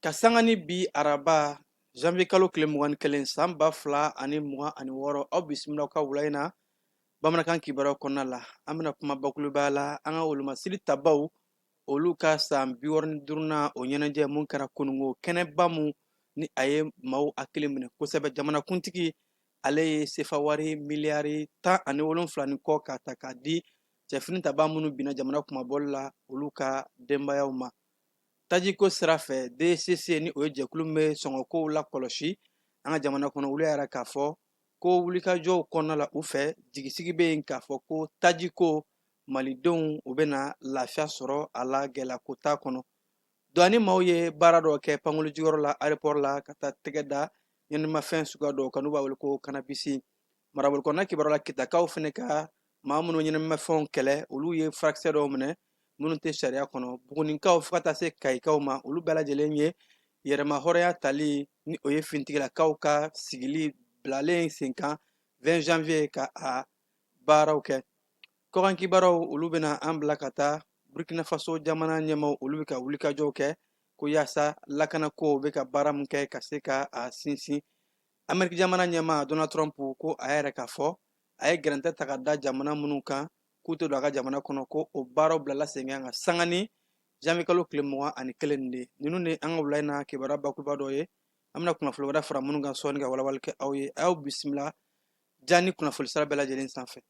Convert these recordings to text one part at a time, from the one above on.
Ka sanga ni bi araba janvier kalo tile mugan ni kelen san ba fila ani mugan ani wɔɔrɔ aw bisimila ka wula in na bamanankan kibaruyaw kɔnɔna la an bɛna kuma bakuruba la an ka wolomasiri tabaw olu ka san bi wɔɔrɔ ni duurunan o ɲɛnajɛ mun kɛra kununko kɛnɛba mun ni a ye maaw hakili minɛ kosɛbɛ jamanakuntigi ale ye sefawari miliyari tan ani wolonfila ni kɔ k'a ta k'a di cɛfini tabaa minnu binna jamana kunmabɔli la olu ka denbayaw ma tajiko sira fɛ dcc ni o ye jɛkulu bɛ sɔngɔkow la kɔlɔsi an ka jamana kɔnɔ olu y'a jira k'a fɔ ko wulikajɔw kɔnɔna la u fɛ jigisigi bɛ yen k'a fɔ ko tajiko malidenw u bɛna lafiya sɔrɔ a la gɛlɛya ko t'a kɔnɔ douane maaw ye baara dɔ kɛ pankurunjigiyɔrɔ la aéroport la ka taa tɛgɛ da ɲɛnamafɛn suguya dɔw kan n'u b'a wele ko kanabisi marabolo kɔnɔna kibaruya la kitakaw fana ka maa minnu ɲɛnamafɛnw kɛlɛ olu ye furakisɛ dɔw minɛ minnu tɛ sariya kɔnɔ bugunikaw fo ka taa se kayikaw ma olu bɛɛ lajɛlen ye yɛrɛmahɔrɔnya tali ni o ye finitigilakaw ka sigili bilalen sen kan 20 janvier ka a baaraw kɛ kɔkan kibaruyaw olu bɛna an bila ka taa burkina faso jamana ɲɛmaw olu bɛ ka wulikajɔw kɛ ko yaasa lakanakow bɛ ka baara min kɛ ka se ka a sinsin ameriki jamana ɲɛma donald trump ko a y'a jira k'a fɔ a ye gɛrɛntɛ ta k'a da jamana minnu kan k'u tɛ don a ka jamana kɔnɔ ko o baaraw bilala sen kan ka sanga ni janvier kalo tile mugan ani kelen nin de ninnu de an ka wula in na kibaruya bakuruba dɔ ye an bɛna kunnafoni wɛrɛ fara minnu kan sɔɔni ka walawali kɛ aw ye a y'aw bisimila ja ni kunnafoni sira bɛɛ lajɛlen sanfɛ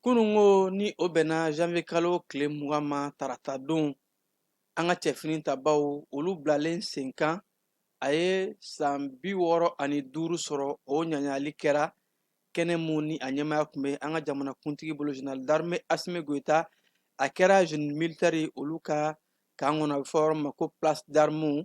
Kununko ni o bɛnna janvier kalo tile mugan ma tarata don an ka cɛfini tabaw olu bilalen sen kan a ye san bi wɔɔrɔ ani duuru sɔrɔ o ɲagali kɛra kɛnɛ mun ni a ɲɛmaya tun bɛ an ka jamanakuntigi bolo général d'armée Asimi Goyita a kɛra génie militaire olu ka kan kɔnɔ a bɛ fɔ yɔrɔ min ma ko place d'armes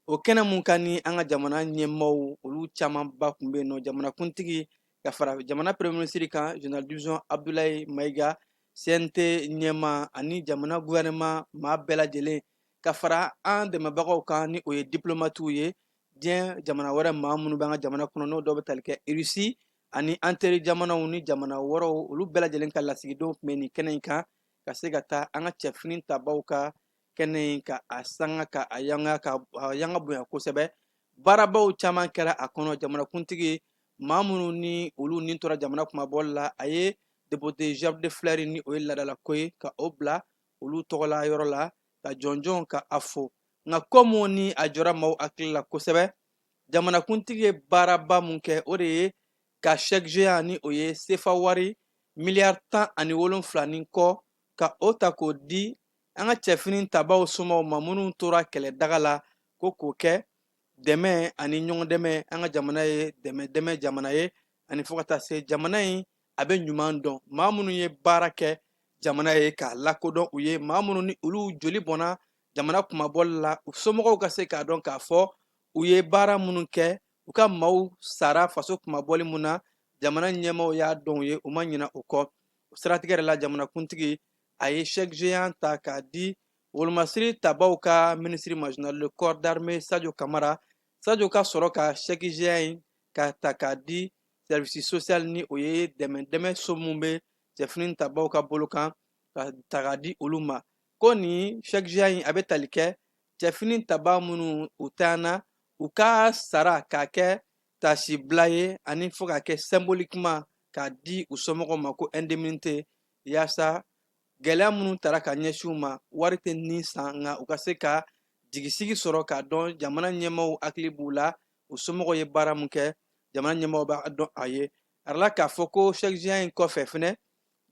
o kɛnɛ mun kan ni an ka jamana ɲɛmaaw olu camanba tun bɛ yen nɔ jamanakuntigi ka fara jamana premier ministre kan général division Abdoulaye Mayiga CNT ɲɛma ani jamana gouvernement maa bɛɛ lajɛlen ka fara an dɛmɛbagaw kan ni o ye diplomatiw ye diɲɛ jamana wɛrɛ maa minnu bɛ an ka jamana kɔnɔ n'o dɔw bɛ tali kɛ russie ani an teri jamanaw ni jamana wɛrɛw olu bɛɛ lajɛlen ka lasigidenw tun bɛ nin kɛnɛ in kan ka se ka taa an ka cɛfini tabaw ka kɛnɛ in ka a sanga ka a yanga bonya kosɛbɛ baarabaw caman kɛra a kɔnɔ jamanakuntigi maa minnu ni olu ni tora jamana kunmabɔli la a ye dépôt de gerbe de fleurs ni o ye laadalako ye ka o bila olu tɔgɔla yɔrɔ la ka jɔnjɔn ka a fo nka ko mun ni a jɔra maaw hakili la kosɛbɛ jamanakuntigi ye baaraba mun kɛ o de ye ka chèque géant ni o ye sefa wari miliyari tan ani wolonfila ni kɔ ka o ta k'o di an ka cɛfini tabaw somaaw ma minnu tora kɛlɛ daga la ko k'o kɛ dɛmɛ ani ɲɔgɔn dɛmɛ an ka jamana ye dɛmɛ dɛmɛ jamana ye ani fo ka taa se jamana in a bɛ ɲuman dɔn maa minnu ye baara kɛ jamana ye k'a lakodɔn u ye maa minnu ni olu joli bɔnna jamana kunmabɔli la u somɔgɔw ka se k'a dɔn k'a fɔ u ye baara minnu kɛ u ka maaw sara faso kunmabɔli mun na jamana ɲɛmaaw y'a dɔn u ye u ma ɲina o kɔ o siratigɛ yɛrɛ la jamanakuntigi a ye chèque géant ta k'a di wolomasiri tabaw ka minisiri ma général de corps d'armée sadio kamara sadio ka sɔrɔ ka chèque géant in ka ta k'a di service social ni o ye dɛmɛ dɛmɛ so mun bɛ cɛfini tabaw ka bolo kan ka ta k'a di olu ma ko nin chèque géant in a bɛ tali kɛ cɛfini taba minnu u taana u ka sara k'a kɛ tasibila ye ani fo k'a kɛ symboliquement k'a di u somɔgɔw ma ko indemnité yaasa gɛlɛya minnu tara ka ɲɛsin u ma wari tɛ ni san nka u ka se ka jigisigi sɔrɔ k'a dɔn jamana ɲɛmaaw hakili b'u la u somɔgɔw ye baara min kɛ jamana ɲɛmaaw b'a dɔn a yirala k'a fɔ ko chèque géant in kɔfɛ fɛnɛ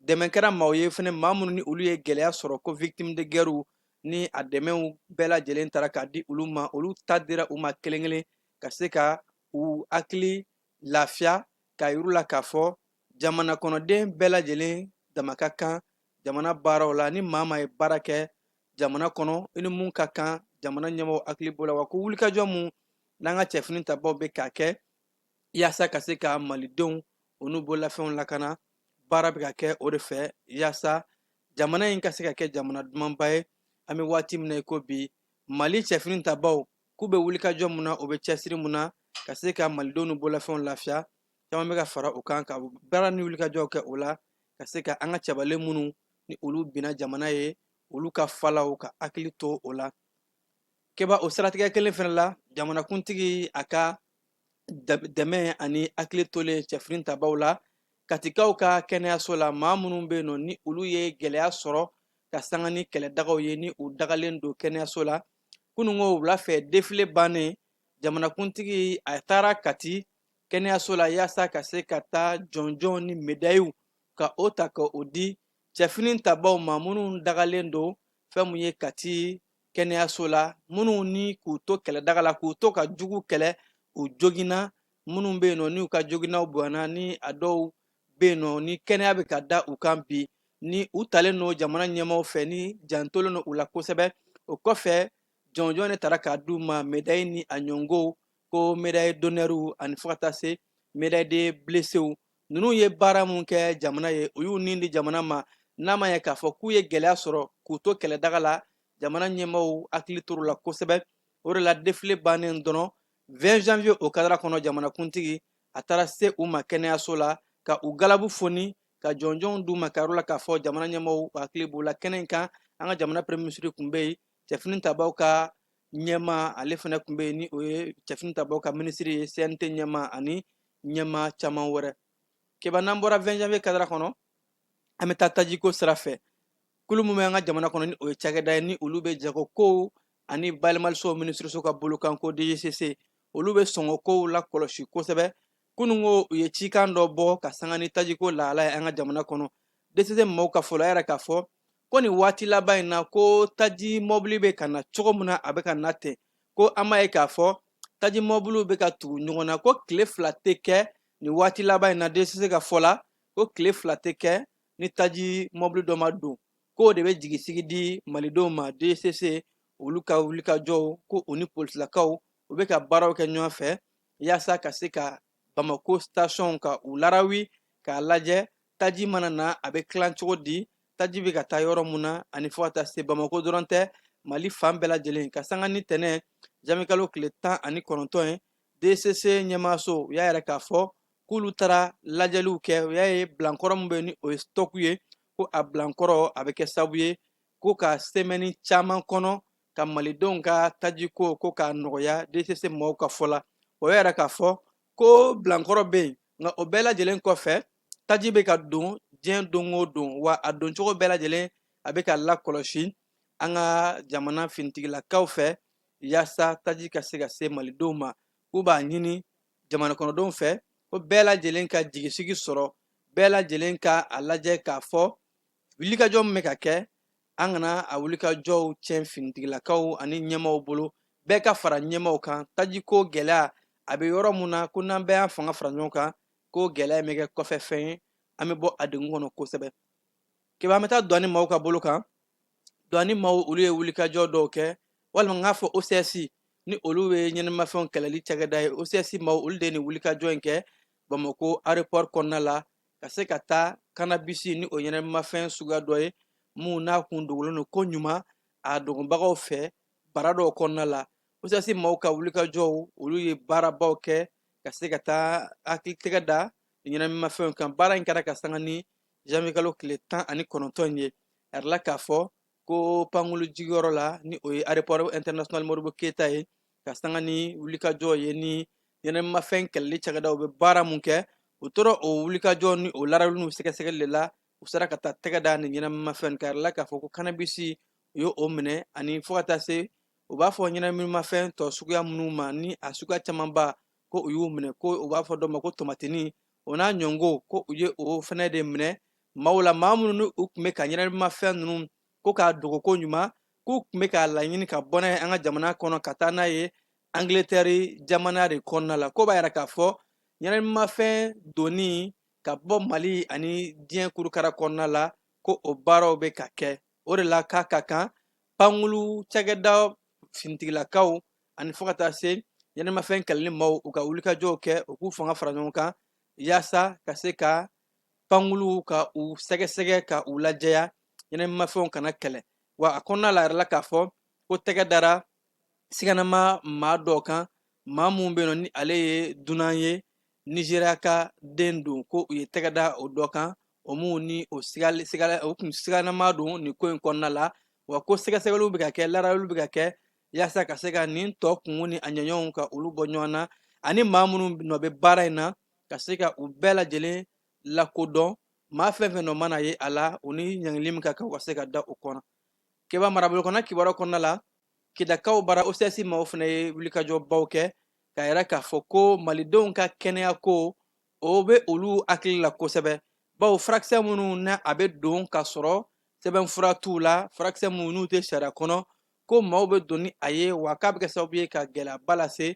dɛmɛ kɛra maaw ye fɛnɛ maa minnu ni olu ye gɛlɛya sɔrɔ ko victime de guerre ni a dɛmɛw bɛɛ lajɛlen tara k'a di olu ma olu ta dira u ma kelen kelen ka se ka u hakili lafiya k'a yir'u la k'a fɔ jamana kɔnɔden bɛɛ lajɛlen dama ka kan jamana baaraw la ni maa maa ye baara kɛ jamana kɔnɔ i ni mun ka kan jamana ɲɛmɔgɔ hakili b'o la wa ko wulikajɔ mun n'an ka cɛfini tabaw bɛ k'a kɛ yaasa ka se ka malidenw u n'u bololafɛnw lakana baara bɛ ka kɛ o de fɛ yaasa jamana in ka se ka kɛ jamana dumanba ye an bɛ waati min na i ko bi mali cɛfini tabaw k'u bɛ wulikajɔ mun na u bɛ cɛsiri mun na ka se ka malidenw n'u bololafɛnw lafiya caman bɛ ka fara u kan ka baara ni wulikajɔw kɛ o la ka se ka an ka cɛbalen minnu ni olu binna jamana ye olu ka falaw ka hakili to o la keba o siratigɛ kelen fana la jamanakuntigi a ka dɛmɛ ani hakili tolen cɛfini tabaw la katikaw ka kɛnɛyaso la maa minnu bɛ yen nɔ ni olu ye gɛlɛya sɔrɔ ka sanga ni kɛlɛdagaw ye ni u dagalen don kɛnɛyaso la kununko wula fɛ defile bannen jamanakuntigi a taara kati kɛnɛyaso la yaasa ka se ka taa jɔnjɔn ni medayiw ka o ta ka o di cɛfini tabaw ma minnu dagalen don fɛn mun ye kati kɛnɛyaso la minnu ni k'u to kɛlɛdaga la k'u to ka jugu kɛlɛ u joginna minnu bɛ yen nɔ n'u ka joginnaw bonyana ni a dɔw bɛ yen nɔ ni kɛnɛya bɛ ka da u kan bi ni u talen don jamana ɲɛmaaw fɛ ni jantolen don u la kosɛbɛ o kɔfɛ jɔnjɔn de taara k'a d'u ma medayi ni a ɲɔgɔnw ko medayi d'honneur ani fo ka taa se medayi de blessés ninnu ye baara mun kɛ jamana ye u y'u ni di jamana ma n'a ma ɲɛ k'a fɔ k'u ye gɛlɛya sɔrɔ k'u to kɛlɛdaga la jamana ɲɛmɔgɔw hakili tor'u la kosɛbɛ o de la defile bannen dɔrɔn 20 janvier o kadara kɔnɔ jamanakuntigi a taara se u ma kɛnɛyaso la ka u galabu foni ka jɔnjɔnw d'u ma k'a yir'u la k'a fɔ jamana ɲɛmɔgɔw hakili b'u la kɛnɛ in kan an ka jamana premier minisiri tun bɛ yen cɛfini tabaw ka ɲɛmaa ale fana tun bɛ yen ni o ye cɛfini tabaw ka minisiri ye cnt ɲɛmaa ani ɲɛmaa caman wɛrɛ keba n'an bɔra 20 janvier kadara kɔnɔ an bɛ taa tajiko sira fɛ kulu min bɛ an ka jamana kɔnɔ ni o ye cakɛda ye ni olu bɛ jagokow ani bayɛlɛmalisow minisiriso ka bolokan ko dgcc olu bɛ sɔngɔkow lakɔlɔsi kosɛbɛ kununko u ye cikan dɔ bɔ ka sanga ni tajiko lahala ye an ka jamana kɔnɔ dcc mɔgɔw ka fɔ la o y'a yira k'a fɔ ko nin waati laban in na ko taji mɔbili bɛ ka na cogo min na a bɛ ka na ten ko an b'a ye k'a fɔ taji mɔbiliw bɛ ka tugu ɲɔgɔn na ko tile fila tɛ kɛ nin waati laban in na desise ka fɔ la ko tile fila tɛ kɛ ni taji mɔbili dɔ ma don k'o de bɛ jigisigi di malidenw ma desise olu ka wulikajɔw ko u ni polisilakaw u bɛ ka baaraw kɛ ɲɔgɔn fɛ yaasa ka se ka bamako sitasiɔnw ka u larawi k'a lajɛ taji mana na a bɛ tilan cogo di taji bɛ ka taa yɔrɔ mun na ani fo ka taa se bamako dɔrɔn tɛ mali fan bɛɛ lajɛlen ka sanga ni tɛnɛn janvier kalo tile tan ani kɔnɔntɔn ye dcc ɲɛmaaso u y'a yira k'a fɔ k'olu taara lajɛliw kɛ u y'a ye bilankɔrɔ min bɛ ni o ye stɔku ye ko a bilankɔrɔ a bɛ kɛ sababu ye ko ka semɛni caman kɔnɔ ka malidenw ka tajiko ko k'a nɔgɔya dcc mɔgɔw ka fɔ la o y'a yira k'a fɔ ko bilankɔrɔ bɛ yen nka o bɛɛ lajɛlen kɔfɛ taji bɛ ka don diɲɛ don o don wa a doncogo bɛɛ lajɛlen a bɛ ka lakɔlɔsi an ka jamana finitigilakaw fɛ yaasa taji ka se ka se malidenw ma k'u b'a ɲini jamana kɔnɔdenw fɛ ko bɛɛ lajɛlen ka jigisigi sɔrɔ bɛɛ lajɛlen ka a lajɛ k'a fɔ wulikajɔ min bɛ ka kɛ an kana a wulikajɔw tiɲɛ finitigilakaw ani ɲɛmaw bolo bɛɛ ka fara ɲɛmaw kan tajiko gɛlɛya a bɛ yɔrɔ mun na ko n'an bɛɛ y'an fanga fara ɲɔgɔn kan ko gɛlɛya in bɛ kɛ kɔfɛ fɛn ye an bɛ bɔ a degun kɔnɔ kosɛbɛ keba an bɛ taa douane maaw ka bolo kan douane maaw olu ye wulikajɔ dɔw kɛ walima n k'a fɔ ocs ni olu ye ɲɛnɛmafɛnw kɛlɛli cakɛda ye ocs maaw olu de ye nin wulikajɔ in kɛ bamako aéroport kɔnɔna la ka se ka taa kanabisi ni o ɲɛnamafɛn suguya dɔ ye minnu n'a kun dogolen don ko ɲuman a dogonbagaw fɛ bara dɔw kɔnɔna la ocs maaw ka wulikajɔw olu ye baarabaw kɛ ka se ka taa hakili tɛgɛ da ɲɛnamafɛnw kan baara in kɛra ka sanga ni janvier kalo tile tan ani kɔnɔntɔn ye a yirala k'a fɔ ko pankulu jigiyɔrɔ la ni o ye aéroport international modibo keyita ye ka sanga ni wulikajɔ ye ni ɲɛnɛmafɛn kɛlɛli cakɛdaw bɛ baara mun kɛ u tora o wulikajɔ ni o larali n'u sɛgɛsɛgɛli de la u sera ka taa tɛgɛ da nin ɲɛnɛmafɛn kan a yirala k'a fɔ ko kanabisi u ye o minɛ ani fo ka taa se u b'a fɔ ɲɛnɛminimafɛn tɔ suguya minnu ma ni a suguya camanba ko u y'u minɛ ko u b'a fɔ dɔ ma ko tomatini o n'a ɲɔgɔn ko u ye o fɛnɛ de minɛ maaw la maa minnu ni u tun bɛ ka ɲɛnamafɛn ninnu ko k'a dogo ko ɲuman k'u tun bɛ k'a laɲini ka bɔ n'a ye an ka jamana kɔnɔ ka taa n'a ye angiletɛri jamana de kɔnɔna la k'o b'a yira k'a fɔ ɲɛnamafɛn donni ka bɔ mali ani diɲɛ kurukara kɔnɔna la ko o baaraw bɛ ka kɛ o de la k'a ka kan pankulu cakɛda finitigilakaw ani fo ka taa se ɲɛnamafɛn kɛlɛli maaw u ka wulikajɔw kɛ u k'u fanga fara ɲɔgɔn kan yaasa ka se ka pankuluw ka u sɛgɛsɛgɛ ka u lajɛya ɲɛnɛmimafɛnw kana kɛlɛ wa a kɔnɔna la yirala k'a fɔ ko tɛgɛ dara siganama maa dɔ kan maa minnu bɛ yen nɔ ni ale ye dunan ye nizeriya ka den don ko u ye tɛgɛ da o dɔ kan o mun ni o kun siganama don nin ko in kɔnɔna la wa ko sɛgɛsɛgɛliw bɛ ka kɛ laaraliw bɛ ka kɛ yaasa ka se ka nin tɔ kungo ni a jɛɲɔgɔnw ka olu bɔ ɲɔgɔn na ani maa minnu nɔ bɛ baara in na ka se ka u bɛɛ lajɛlen lakodɔn maa fɛn fɛn nɔ mana ye a la u ni ɲangili min ka kan u ka se ka da o kɔnɔ keba marabolo kɔnɔ kibaruya kɔnɔna la kidakaw bara ocs maaw fana ye wulikajɔbaw kɛ k'a yira k'a fɔ ko malidenw ka kɛnɛya ko o bɛ olu hakili la kosɛbɛ bawo furakisɛ minnu na a bɛ don ka sɔrɔ sɛbɛnfura t'u la furakisɛ minnu n'u tɛ sariya kɔnɔ ko maaw bɛ don ni a ye wa k'a bɛ kɛ sababu ye ka gɛlɛyaba lase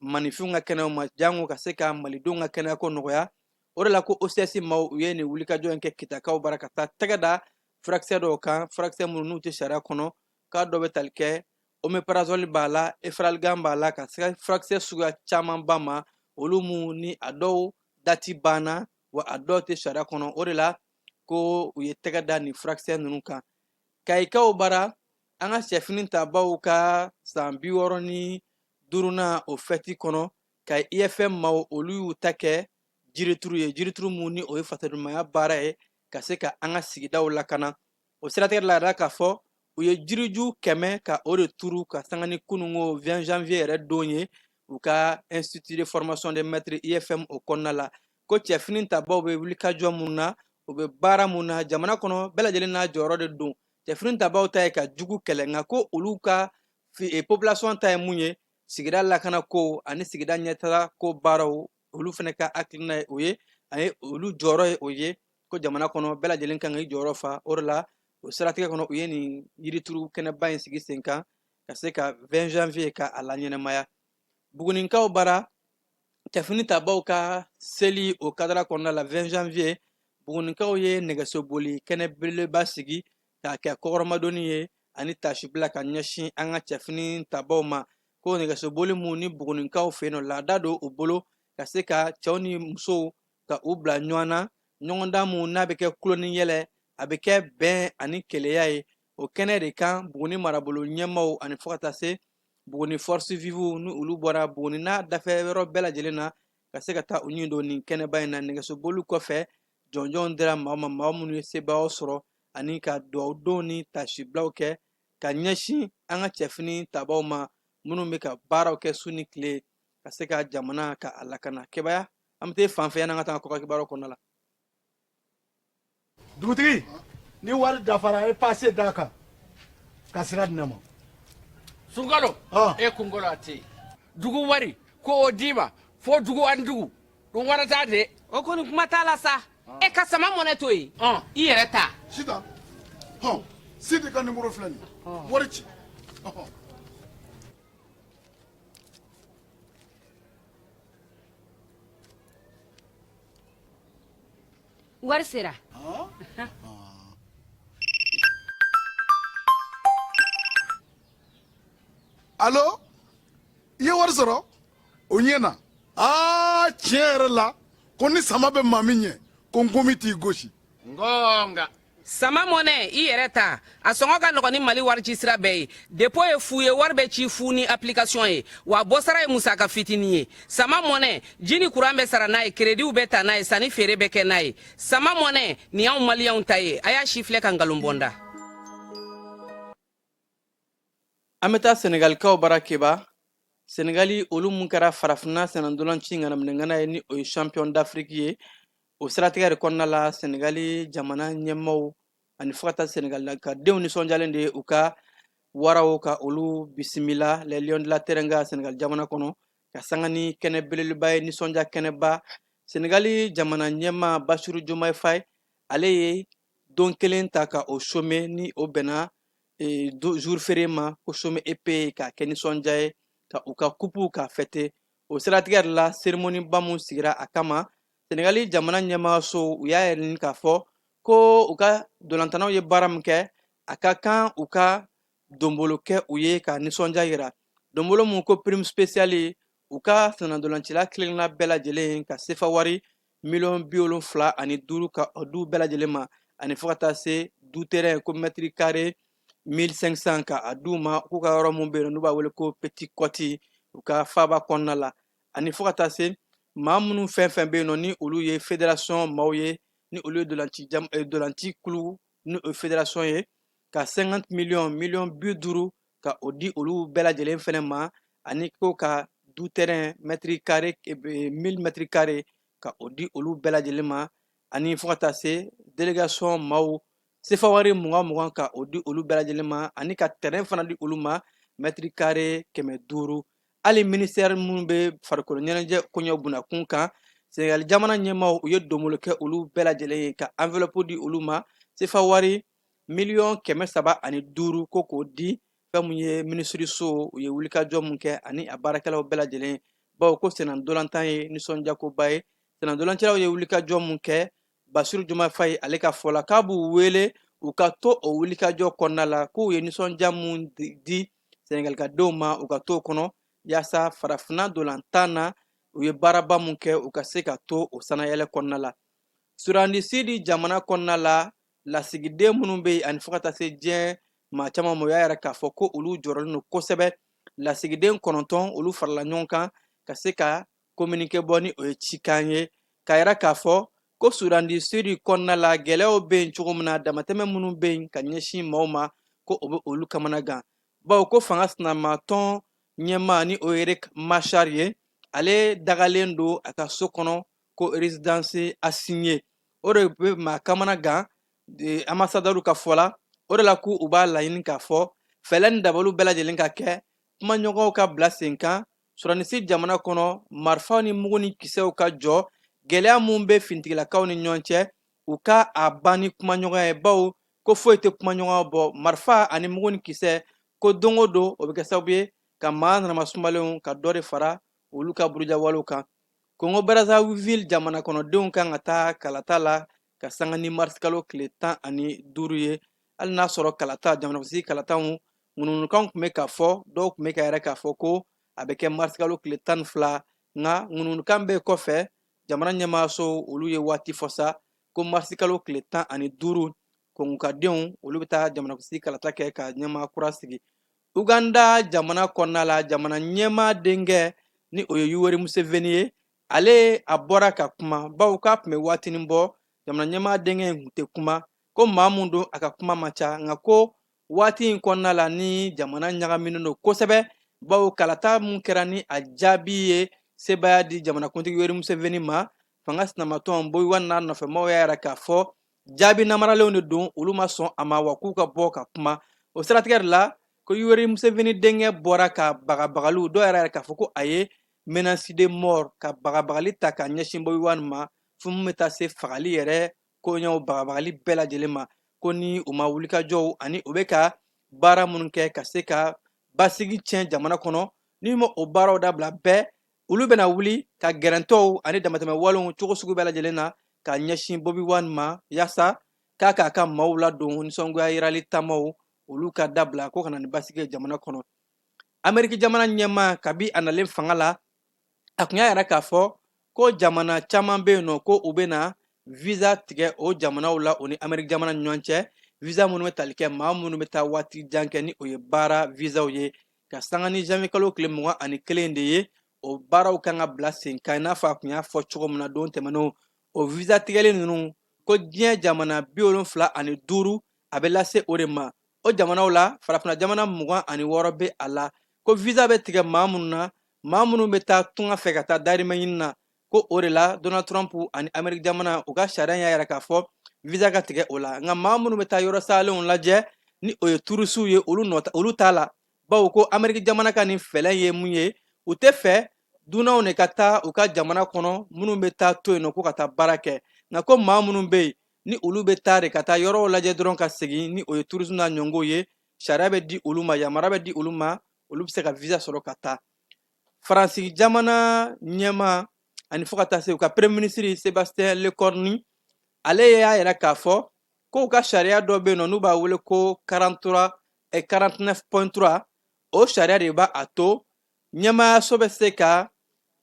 maaninfinw ka kɛnɛyaw ma jango ka se ka malidenw ka kɛnɛya ko nɔgɔya o de la ko ocs maaw u ye nin wulikajɔ in kɛ kitakaw bara ka taa tɛgɛ da furakisɛ dɔw kan furakisɛ minnu n'u tɛ sariya kɔnɔ k'a dɔ bɛ tali kɛ omeprazole b'a la efferalgan b'a la ka se furakisɛ suguya camanba ma olu mun ni a dɔw dati banna wa a dɔw tɛ sariya kɔnɔ o de la ko u ye tɛgɛ da nin furakisɛ ninnu kan kayikaw bara an ka cɛfini tabaw ka san bi wɔɔrɔ ni duruna o fɛti kɔnɔ kayi ifm maaw olu y'u ta kɛ jirituru ye jirituru mun ni o ye fasodenɲumanya baara ye ka se ka an ka sigidaw lakana o siratigɛ la yɛrɛ k'a fɔ u ye jiriju kɛmɛ ka o de turu ka sanga ni kununko 20 janvier yɛrɛ don ye u ka institut de formation des maîtres ifm o kɔnɔna la ko cɛfini tabaw bɛ wulikajɔ mun na u bɛ baara mun na jamana kɔnɔ bɛɛ lajɛlen n'a jɔyɔrɔ de don cɛfini tabaw ta ye ka jugu kɛlɛ nka ko olu ka eh, population ta ye mun ye sigida lakana ko ani sigida ɲɛtaga ko baaraw olu fana ka hakilina ye o ye ani olu jɔyɔrɔ ye o ye ko jamana kɔnɔ bɛɛ lajɛlen kan ka i jɔyɔrɔ fa o de la o siratigɛ kɔnɔ u ye nin yirituru kɛnɛba in sigi sen kan ka se ka 20 janvier ka a laɲɛnamaya buguninkaw bara cɛfini tabaw ka seli o kadara kɔnɔna la 20 janvier buguninkaw ye nɛgɛsoboli kɛnɛ belebeleba sigi k'a kɛ kɔkɔrɔmadonni ye ani taasibila ka ɲɛsin an ka cɛfini tabaw ma ko nɛgɛsoboli mun ni buguninkaw fɛ yen nɔ laada don u bolo ka se ka cɛw ni musow ka u bila ɲɔgɔn na ɲɔgɔndan mun n'a bɛ kɛ tulon ni yɛlɛ a bɛ kɛ bɛn ani kelenya ye o kɛnɛ de kan buguni marabolo ɲɛmaaw ani fo ka taa se buguni forces vives ni olu bɔra buguni n'a dafɛ yɔrɔ bɛɛ lajɛlen na ka se ka taa u ɲin don nin kɛnɛba in na nɛgɛsoboli kɔfɛ jɔnjɔn dira maaw ma maa minnu ye sebaaya sɔrɔ ani ka duwawudonw ni taasibilaw kɛ ka ɲɛsin an ka cɛfini tabaw ma minnu bɛ ka baaraw kɛ su ni tile ka se ka jamana ka a lakana kebaya an bɛ taa fan fɛ yanni an ka taa kɔkan kibaruw kɔnɔna la dugutigi ni wari dafara e pase d'a kan ka sira di ne ma sunkalo Ah. e kunkolo a tɛ yen dugu wari ko o d'i ma fo dugu ani dugu dun wɛrɛ t'a de o kɔni kuma t'a la sa e ka sama mɔnɛ to yen Ɔn. i yɛrɛ ta sitan hɔn sidi ka nimɔrɔ filɛ nin ye wari ci Ɔhɔn. Wari sera alo i ye wari sɔrɔ o ɲɛna aa tiɲɛ yɛrɛ la ko ni sama bɛ maa min ɲɛ ko nkɔmi t'i gosi nka sama mɔnɛ i yɛrɛ ta a sɔngɔ ka nɔgɔn ni mali warici sira bɛɛ ye depo ye fu ye wari bɛ ci fu ni apilikasiyɔn ye wa bɔsara ye musaka fitinin ye sama mɔnɛ ji ni kuran bɛ sara n'a ye kerediw bɛ ta n'a ye sanni feere bɛ kɛ n'a ye sama mɔnɛ nin y'anw maliyɛnw ta ye a y'a sifilɛ ka nkalon bɔnda an bɛ taa sɛnɛgalikaw bara keba sɛnɛgali olu mun kɛra farafinna sennandolanci ŋanaminɛŋana ye ni o ye champion d'afrique ye o siratigɛ de kɔnɔna la sɛnɛgali jamana ɲɛmaaw ani fo ka taa sɛnɛgalikadenw nisɔndiyalen de u ka waraw ka olu bisimila les lions de la teranga sɛnɛgali jamana kɔnɔ ka sanga ni kɛnɛ belebeleba ye nisɔndiya kɛnɛba sɛnɛgali jamana ɲɛmaa basiru jomaye faye ale ye don kelen ta ka o some ni o bɛnna e, jour férié ma ko chômé et payé k'a kɛ nisɔndiya ye ka u ka kupu ka fɛte o siratigɛ de la seremoniba mun sigira a kama sɛnɛgali jamana ɲɛmaaso u y'a yɛrɛ ɲini k'a fɔ ko u ka dolantannaw ye baara min kɛ a ka kan u ka donbolo kɛ u ye ka nisɔndiya yira donbolo mun ko prime spéciale u ka sennadolancila kelenna bɛɛ lajɛlen ka sefa wari miliyɔn bi wolonfila ani duuru ka o d'u bɛɛ lajɛlen ma ani fo ka taa se du terɛn ko mɛtiri kare 1500 ka a d'u ma k'u ka yɔrɔ mun bɛ yen n'u b'a wele ko petite côte u ka faaba kɔnɔna la ani fo ka taa se maa minnu fɛn fɛn bɛ yen nɔ ni olu ye federasiyɔn maaw ye ni olu ye dolanci eh, dolanci kulu ni o federasiyɔn ye ka 50 miliyɔn miliyɔn bi duuru ka o di olu bɛɛ lajɛlen fɛnɛ ma ani ko ka du terɛn mɛtiri kare eh, mil mɛtiri kare ka o di olu bɛɛ lajɛlen ma ani fo ka taa se délégation maaw sefa wari mugan mugan ka o di olu bɛɛ lajɛlen ma ani ka tɛrɛn fana di olu ma mɛtiri kare kɛmɛ duuru hali minisitɛri min bɛ farikolo ɲɛnajɛ koɲɛ bunna kunkan senegali jamana ɲɛmaaw u ye donbolo kɛ olu bɛɛ lajɛlen ye ka anvelɔpu di olu ma sefa wari miliyɔn kɛmɛ saba ani duuru ko k'o di fɛn min ye minisiriso u ye wulikajɔ min kɛ ani a baarakɛlaw bɛɛ lajɛlen bawo ko senna ntolantan ye nisɔndiyakoba ye senna ntolancilaw ye wulikajɔ min kɛ basiru jomaye faye ale ka fɔ la k'a b'u wele u ka to o wulikajɔ kɔnɔna la k'u ye nisɔndiya min di sɛnɛgalikadenw ma u ka to o kɔnɔ yaasa farafinna dolantan na u ye baaraba min kɛ u ka se ka to o sanayɛlɛ kɔnɔna la soudan du sud jamana kɔnɔna la lasigiden minnu bɛ yen ani fo ka taa se diɲɛ maa caman ma u y'a yira k'a fɔ ko olu jɔrɔlen don kosɛbɛ lasigiden kɔnɔntɔn olu farala ɲɔgɔn kan ka se ka kominike bɔ ni o ye cikan ye k'a yira k'a fɔ ko Soudan du Sud kɔnɔna la gɛlɛyaw bɛ yen cogo min na damatɛmɛ minnu bɛ yen ka ɲɛsin maaw ma ko o bɛ olu kamana gan bawo ko fanga sinamatɔn ɲɛmaa ni o ye Riek Machar ye ale dagalen don a ka so kɔnɔ ko résidence assignée o de bɛ maa kamana gan anbasadaw ka fɔ la o de la ko u b'a laɲini k'a fɔ fɛlɛ ni dabaliw bɛɛ lajɛlen ka kɛ kumaɲɔgɔnw ka bila sen kan Soudan du Sud jamana kɔnɔ marifaw ni mugu ni kisɛw ka jɔ gɛlɛya min bɛ finitigilakaw ni ɲɔgɔn cɛ u ka a ban ni kumaɲɔgɔnya ye bawo ko foyi tɛ kumaɲɔgɔnya bɔ marifa ani mugu ni kisɛ ko don o don o bɛ kɛ sababu ye ka maa nanamasumalenw ka dɔ de fara olu ka burujawalew kan kongo brazzaville jamanakɔnɔdenw kan ka taa kalata la ka sanga ni marisikalo tile tan ani duuru ye hali n'a sɔrɔ kalata jamanakunsigi kalataw ŋunuŋunukan tun bɛ k'a fɔ dɔw tun bɛ k'a yira k'a fɔ ko a bɛ kɛ marisikalo tile tan ni fila nka ŋunuŋunukan bɛɛ kɔfɛ jamana ɲɛmaaso olu ye waati fɔ sa ko marisikalo tile tan ani duuru kongokadenw olu bɛ taa jamanakunsigi kalata kɛ ka ɲɛmaa kura sigi uganda jamana kɔnɔna la jamana ɲɛmaa denkɛ ni o ye yoweri museveni ye ale a bɔra ka kuma bawo k'a tun bɛ waatinin bɔ jamana ɲɛmaa denkɛ in tun tɛ kuma ko maa min don a ka kuma man ca nka ko waati in kɔnɔna la ni jamana ɲagaminen don kosɛbɛ bawo kalata min kɛra ni a jaabi ye sebaaya di jamanakuntigi yoweri museveni ma fanga sinamatɔn Bobi Wine n'a nɔfɛmaw y'a yira k'a fɔ jaabi namaralenw de don olu ma sɔn a ma wa k'u ka bɔ ka kuma o siratigɛ de la ko yoweri museveni denkɛ bɔra ka bagabagaliw dɔw yɛrɛ yira k'a fɔ ko a ye menace de mort ka bagabagali ta ka ɲɛsin Bobi Wine ma fo min bɛ taa se fagali yɛrɛ koɲɛw bagabagali bɛɛ lajɛlen ma ko ni u ma wulikajɔw ani u bɛ ka baara minnu kɛ ka se ka basigi tiɲɛ jamana kɔnɔ ni u ma o baaraw dabila bɛɛ olu bɛna wuli ka gɛrɛntɛw ani damatɛmɛ walew cogo sugu bɛɛ lajɛlen na ka ɲɛsin Bobi Wine ma yaasa k'a k'a ka maaw ladon nisɔngoya yirali taamaw olu ka dabila ko ka na ni basigi ye jamana kɔnɔ ameriki jamana ɲɛmaa kabi a nalen fanga la a tun y'a yira k'a fɔ ko jamana caman bɛ yen nɔ ko u bɛna visa tigɛ o jamanaw la o ni ameriki jamana ni ɲɔgɔn cɛ visa minnu bɛ tali kɛ maa minnu bɛ taa waati jan kɛ ni o ye baara visaw ye ka sanga ni janvier kalo tile mugan ani kelen de ye o baaraw kan ka bila sen kan i n'a fɔ a tun y'a fɔ cogo min na don tɛmɛnenw o visa tigɛli ninnu ko diɲɛ jamana bi wolonfila ani duuru a bɛ lase o de ma o jamanaw la farafina jamana mugan ani wɔɔrɔ bɛ a la ko visa bɛ tigɛ maa minnu na maa minnu bɛ taa tunga fɛ ka taa dahirimɛ ɲini na ko o de la donald trump ani ameriki jamana u ka sariya y'a yira k'a fɔ visa ka tigɛ o la nka maa minnu bɛ taa yɔrɔ salenw lajɛ ni o ye turisiw ye olu t'a la bawo ko ameriki jamana ka nin fɛlɛn ye mun ye u tɛ fɛ dunanw de ka taa u ka jamana kɔnɔ minnu bɛ taa to yen nɔ ko ka taa baara kɛ nka ko maa minnu bɛ yen ni olu bɛ taa de ka taa yɔrɔw lajɛ dɔrɔn ka segin ni o ye tourisme n'a ɲɔgɔn ye sariya bɛ di olu ma yamara bɛ di olu ma olu bɛ se ka visa sɔrɔ ka taa faransi jamana ɲɛmaa ani fo ka taa se u ka premier ministre sebastien lecornu ale y'a yira k'a fɔ k'u ka sariya dɔ bɛ yen nɔ n'u b'a wele ko 43 et 49.3 o sariya de b'a to ɲɛmaayaso bɛ se ka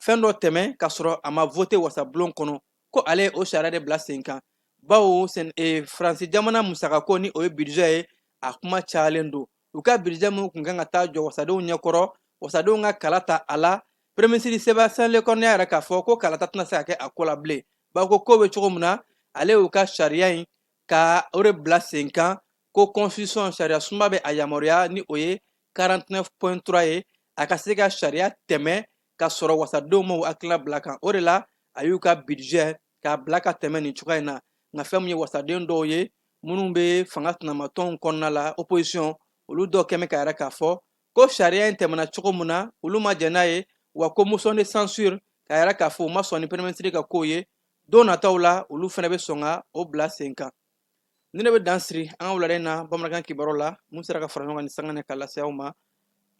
fɛn dɔ tɛmɛ k'a sɔrɔ a ma vote wasabulon kɔnɔ ko ale ye o sariya de bila sen kan bawo e, faransi jamana musakako ni o ye bidijɛ ye a kuma cayalen don u ka bidijɛ minnu tun kan ka taa jɔ wasadenw ɲɛkɔrɔ wasadenw ka kala ta a la pereminisiri sebastien lecornu y'a yira k'a fɔ ko kalata tɛna se ka kɛ a ko la bilen bawo ko kow bɛ cogo min na ale y'u ka sariya in ka o de bila sen kan ko constitution sariya sunba bɛ a yamaruya ni o ye 49.3 ye a ka se ka sariya tɛmɛ ka sɔrɔ wasadenw ma u hakilina bila kan o de la a y'u ka bidijɛ k'a bila ka tɛmɛ nin cogoya in na nka fɛn min ye wasaden dɔw ye minnu bɛ fanga sinamatɔnw kɔnɔna la opposition olu dɔ kɛmɛ k'a yira k'a fɔ ko sariya in tɛmɛna cogo min na olu ma jɛn n'a ye wa ko motion de censure k'a yira k'a fɔ u ma sɔn ni pereminisiri ka kow ye don nataw la olu fana bɛ sɔn ka o bila sen kan nin de bɛ dan siri an ka wulada in na bamanankan kibaruw la min sera ka fara ɲɔgɔn kan nin sanga na ka lase aw ma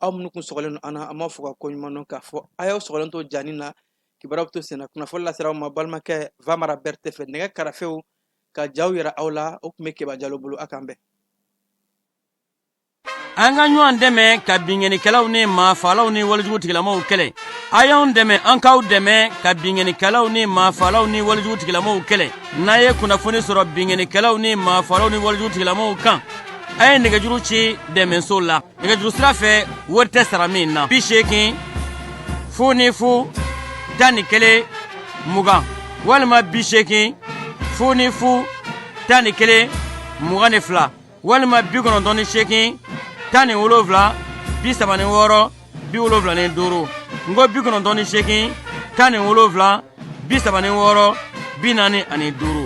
aw minnu kun sɔgɔlen don an na an b'aw fo ka ko ɲuman dɔn k'a fɔ a y'aw sɔgɔlen to janni na kibaruw bɛ to senna kunnafoni lasera aw ma balimakɛ vamara berete fɛ nɛgɛ karafew ka jaw yira aw la o tun bɛ keba jalo bolo a k'an bɛn an ka ɲɔgɔn dɛmɛ ka binkannikɛlaw ni maafalaw ni walejugutigilamaaw kɛlɛ a y'an dɛmɛ an k'aw dɛmɛ ka binkannikɛlaw ni maafalaw ni walejugutigilamaaw kɛlɛ n'a ye kunnafoni sɔrɔ binkannikɛlaw ni maafalaw ni walejugutigilamaaw kan a ye nɛgɛjuru ci dɛmɛso la nɛgɛjuru sira fɛ wari tɛ sara min na bi seegin fu ni fu tan ni kelen mugan walima bi seegin fu ni fu tan ni kelen mugan ni fila walima bi kɔnɔntɔn ni seegin tan ni wolonwula bi saba ni wɔɔrɔ bi wolonwula ni duuru n ko bi kɔnɔntɔn ni seegin tan ni wolonwula bi saba ni wɔɔrɔ bi naani ani duuru